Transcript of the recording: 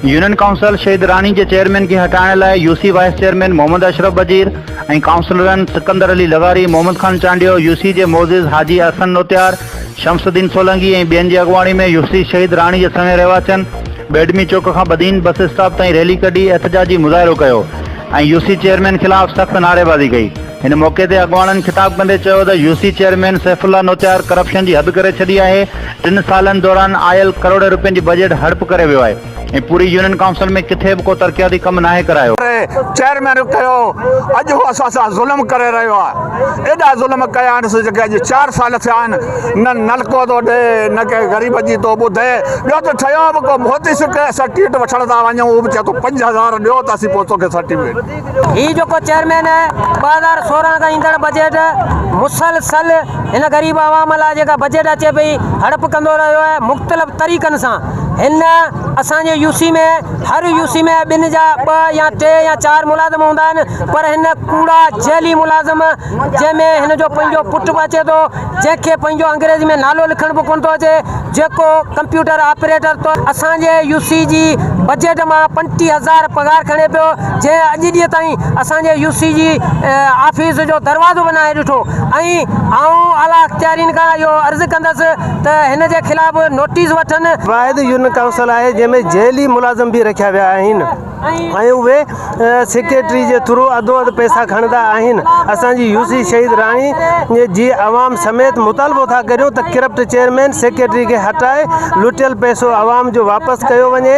Union council Shaheed Rani جي chairman کي هٽائڻ لاء U C vice chairman Muhammad Ashraf Wazir ۽ ڪائونسلرن سڪندر علي لغاري محمد خان چانڊيو يو سي جي معزز حاجي احسن نوتيار شمس الدين سولنگي ۽ ٻين جي اڳواڻي ۾ يو سي شهيد راڻي جي سوين رهواسين ٻيڊمي چوڪ کان بدين بس اسٽاپ تائين ريلي ڪڍي احتجاجي مظاهرو ڪيو ۽ يو سي چيئرمين خلاف سخت نعريبازي ڪئي، ان موقعي تي اڳواڻن خطاب ڪندي چيو ته U C chairman Saif Ullah Notiyar corruption جي حد ڪري ڇڏي آهي، ٽن سالن دوران آيل ڪروڙين رپين جي بجيٽ هڙپ ڪري ويو آهي ۽ پوري يونين ڪائونسل ۾ ڪٿي به ڪو ترقياتي ڪم ناهي ڪرايو. چيئرمين چيو اڄ هو اسان سان ظلم ڪري رهيو آهي. ايڏا ظلم ڪيانس جيڪي اڄ چار سال ٿيا آهن نه نلڪو ٿو ڏئي نه ڪنهن غريب جي ٿو ٻڌي ٻيو ته ٺهيو به ڪو موتي سڪ سرٽيفڪيٽ وٺڻ ٿا وڃون اهو به چئي ٿو پنج هزار ڏيو ته اسين پوء توکي سرٽيفڪيٽ هي جيڪو چيئرمين ٻه هزار سورهن کان ايندڙ بجيٽ مسلسل هن غريب عوام لاء جيڪا بجيٽ اچي پئي هڙپ ڪندو رهيو آهي مختلف طريقن سان هن اسان جي يو سي ۾ هر يو سي ۾ ٻن جا ٻه يا ٽي يا چار ملازم هوندا آهن پر هن ڪوڙا جعلي ملازم جنهن ۾ هن جو پنهنجو پٽ به اچي ٿو جنهن کي پنهنجو انگريزي ۾ نالو لکڻ به ڪونه ٿو اچي جيڪو ڪمپيوٽر آپريٽر طور اسان جي يو سي جي بجيٽ مان پنجٽيهه هزار پگهار کڻي پيو جنهن اڄ ڏينهن تائين اسان جي يو سي جي آفيس جو دروازو به ناهي ڏٺو ۽ آئون اعليٰ اختيارين کان اهو عرض ڪندس ته هن جي خلاف نوٽيس وٺن. واحد يونين ڪائونسل آهي جنهن ۾ جيلي ملازم به رکيا ويا آهن ۽ اهي سيڪريٽري جي ٿرو اڌو اڌ پئسا کڻندا آهن اسان جي يو سي شهيد راڻي جي عوام سميت مطالبو ٿا ڪريون ته ڪرپٽ چيئرمين سيڪريٽري کي هٽائي لٽيل پئسو عوام جو واپس ڪيو وڃي.